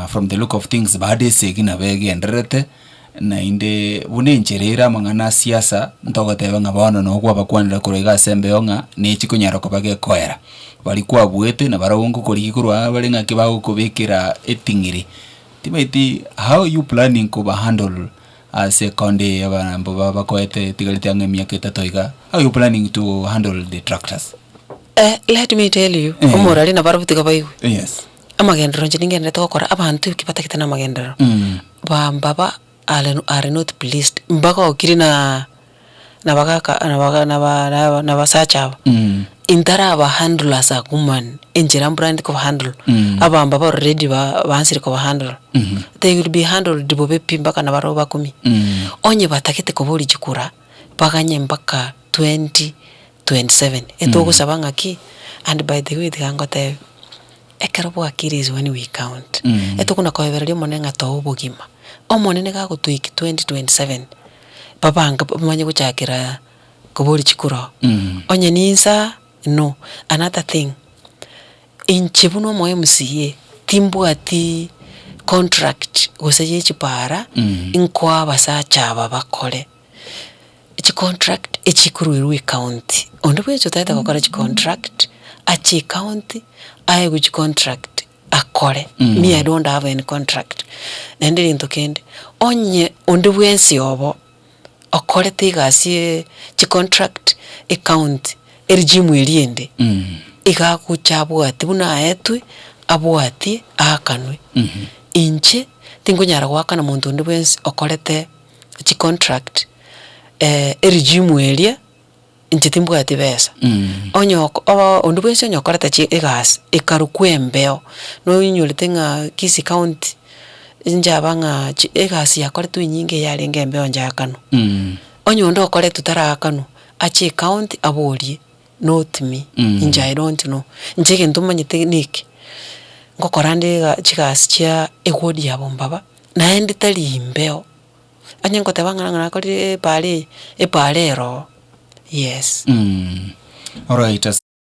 From the look of things baada esegi nabo egendererete, naende buna enchera ere amang'ana a siasa, ntogoteba ng'a bono nabo kwabakwanera korwa iga ase embeo ng'a nechi konyara koba gekoera. Baria kwabuete na barabwo ngokorigia korwa aa bare ng'aki bagokobekera eting'iri, tibaeti how you planning koba handle ase county eye abarambo baba bakoete etigarete ang'e emiaka etato iga, how you planning to handle the tractors? Let me tell you, Eeh. omorwari nabarabwo tiga baigwe. Yes. Amagenderero inche ningendererete gokora, abanto eki batagete na amagenderero, bamba ba are are not pleased, mbagokiri na nabagaka nabaga naba naba nabasacha aba, intaraba handle as a woman, enchera mbura ndi kobahandle, abamba ba already ba bansiri kobahandle, they will be handled bobe pi mpaka nabare obakumie. Onye batagete koba oriche kora, baganye mpaka twenty. 27 etogosaba ng'aki? And by the way tiga ngotebe, ekero bwakire is when we count. Etokona koebereria Omonene ng'a too obogima. Omonene iga agotoiki 2027 babange bamanye gochakera kobori chikura oo. Onye ninsa no. Another thing, inche buna omo MCA timbwati contract gose ye chipara nkoa abasacha aba bakore. chicontract echikoruerwa ecounty. Onde bwensi otaete gokora chicontract, ache ecounty, aegwe chicontract, akore, niye ere onde abe en contract. Naende egento kende, onye onde bwensi obo okorete egasi ye chicontract ecounty, eregime eria ende, iga agocha abwate buna aetwe, abwatie, aakanwe. Inche, tinkonyara goakana monto onde bwensi okorete. chi contract eh eregimu eria inche timbwati besa onye ok oba onde bwensi onye okoreta chi egasi ekarukwa embeo nonyorete ng'a kisi county inchaba ng'a chi egasi yakoretwe enyinge yarenge embeo njakanwa onye onde okoretwe tarakanwa ache ecounty aborie not me inche I don't know inche egento manyete na eke ngokora nde ega chigasi chia ewodi ya bombaba. Naende tari imbeo, onye ngoteba ng'a ng'a nakorire ebaara eye, ebaara eroo, yes. Mh, alright as.